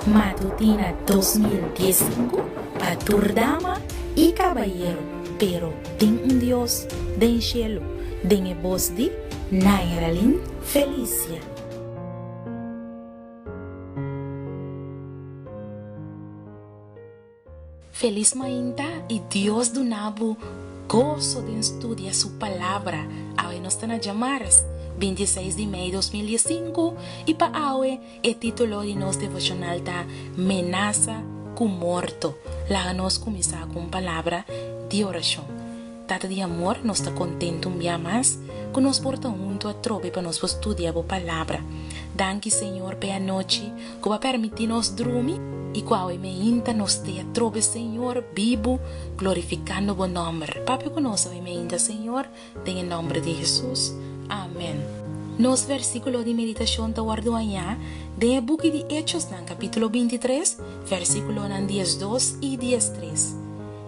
Matutina dos mil dies sinku pa tur dama i kabayero pero tin un Dios den shelu den e bos di Nairalyn Felicia. Felis mainta y Dios duna bo goso den studia su Palabra. Awe nos ta na djamarres, binti seis di mei dos mil die sinku, y pa awe e titulo di nos devocional ta Menasa cu morto. Laga nos cuminsa cu un palabra di oracion. Tata di amor, nos ta kontentu un bia mas ku nos por ta huntu atrobe pa nos por studia bo Palabra. Danki, Señor, p'e anochi ku bo a permití nos drumi i ku awe meinta nos ta e atrobe, Señor, bibu, glorifikando bo nòmber. Papia ku nos awe meinta, Señor, den e nòmber di Hesus. Amèn. Nos vèrsikulo di meditashon ta wòrdu hañá den e buki di Echosnan kapítulo binti tres, vèrsikulonan dies dos i dies tres.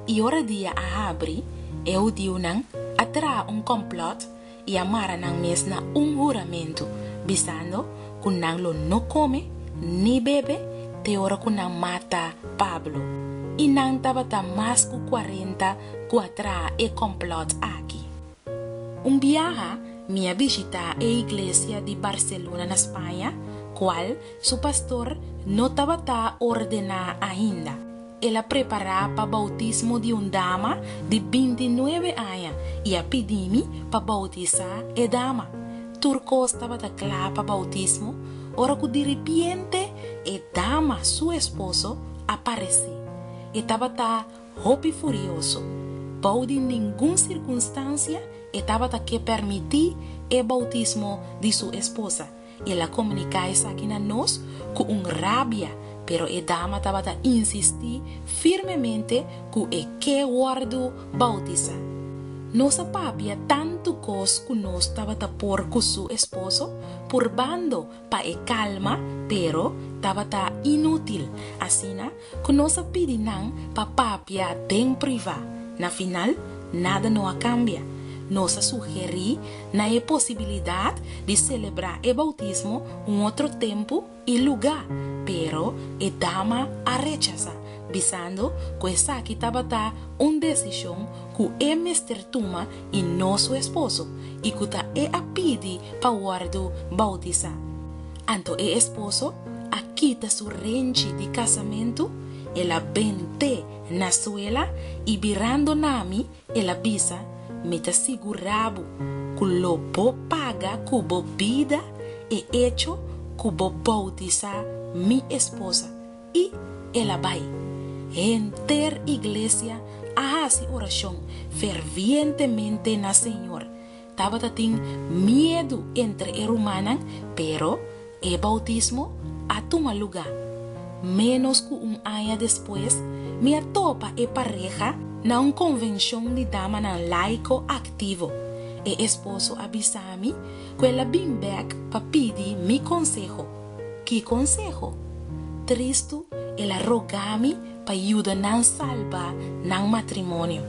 I ora dia a habri, e hudiunan a traha un kòmplòt i a mara nan mes na un huramentu, bisando ku nan lo no kome ni bebe te ora ku nan mata Pablo. I nan tabata mas ku kuarenta ku a traha e kòmplòt aki. Un biaha mi a bishitá e iglesia di Barselona na Spaña, kual su pastor no tabata ordená ainda. El a prepará pa boutismo di un dama di binti nuebe aña i a pidí mi pa boutisá e dama. Tur kos tabata kla pa boutismo ora ku diripiente e dama su esposo a paresé. E tabata hopi furioso. Bou di ningun sirkunstansia e tabata ke permití e boutismo di su esposa. El a komuniká esaki na nos ku un rabia, pero e dama tabata insistí firmemente ku e ke wòrdu boutisá. Nos a papia tantu kos ku nos tabata por ku su esposo purbando pa e kalma, pero tabata inútil. Asina ku nos a pidi nan pa papia den privá. Na final, nada no a kambia. Nos a sugerí nan e posibilidat di selebrá e boutismo un otro tempu i lugá, pero e dama a rechasá, bisando ku esaki tabata un desishon ku e mester tuma i no su esposo, i ku ta e a pidi pa wòrdu boutisá. Anto e esposo a kita su renchi di casamentu, el a ben te na suela y birando na mi el a bisa, Mi ta sigura bo cu lo bo paga cu bo bida e echo cu bo boutisa mi esposa. Y el a bay. Henter iglesia a haci oracion fervientemente na Señor Tabata tin miedu entre e rumannan, pero e boutismo a tuma lugá. Ménos ku un aña despues, mi a topa e pareha na un konvenshon di damanan laiko aktivo. E esposo a bisa mi ku el a bin bèk pa pidi mi konseho. Ki konseho? Tristu, el a rogá mi pa yuda nan salba nan matrimonio.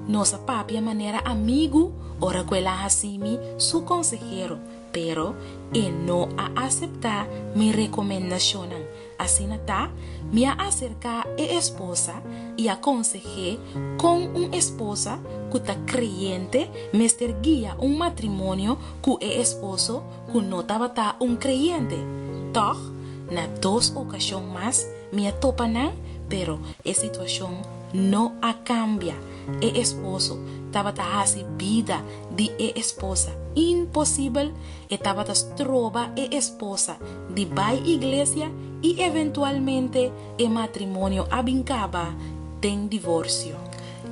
Nos a papia manera amigu ora cu el a haci mi su consehero, pero e no a acepta mi recomendacionnan. Asina ta, mi a acerca e esposa y a conseh'é con un esposa cu ta creyente mester guia un matrimonio cu e esposo ku no tabata un kreyente. Tòg, na dos okashon mas mi a topa nan, pero e situashon no a kambia. E esposo tabata hasi bida di e esposa imposibel, e tabata stroba e esposa di bai iglesia i eventualmente e matrimonio a bin kaba den divorsio.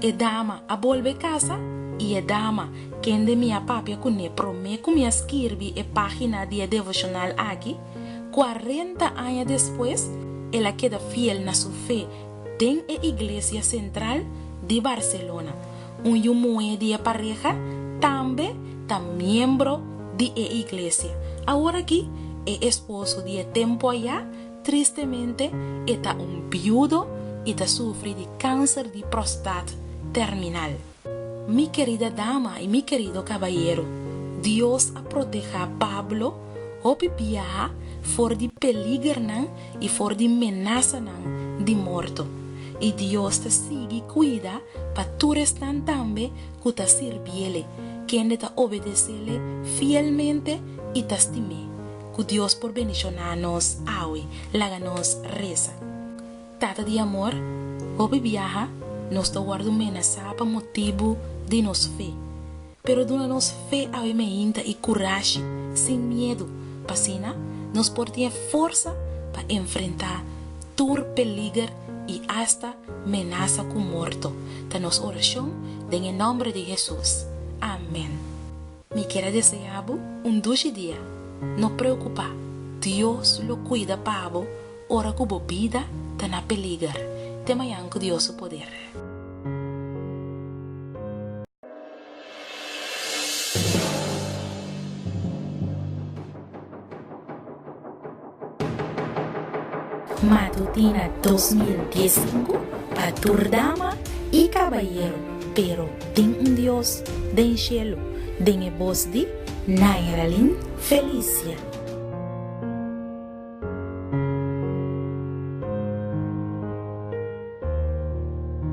E dama a bolbe casa y e dama kende mi a papia cu ne prome cu mi a skirbi e pagina di e devocional aki, cuarenta aña despues el a keda fiel na su fe den e Iglesia Central di Barcelona, un yu muhe di e pareha tambe ta miembro di e iglesia. Awor aki e esposo di e tempo aya Tristemente e ta un biudo y ta sufri di cancer di prostate terminal. Mi querida dama y mi querido cabayero, Dios a proteha Pablo hopi biaha for di peligernan y for di menasanan di morto. Y Dios ta sigui cuida pa tur esnan tambe cu ta sirbiele, kende ta obedecele fielmente y ta stim'é. cu Dios por bendiciona nos awe. Laga nos reza. Tata di amor, hopi biaha nos ta wordo menaza pa motibu di nos fe. Pero duna nos fe awe mehinta y curashi, sin miedu, p'asina nos por tin forza pa enfrenta tur peliger y hasta menaza cu morto, ta nos oracion den e nombre di Jesus. Amen. Mi kier a deseá bo un dushi dia. No preokupá, Dios lo kuida pa bo ora ku bo bida ta na peliger. Te mañan ku Dios su poder. Matutina dos mil dies sinku pa tur dama i kabayero pero tin un Dios den shelu den e bos di Nairalyn Felicia.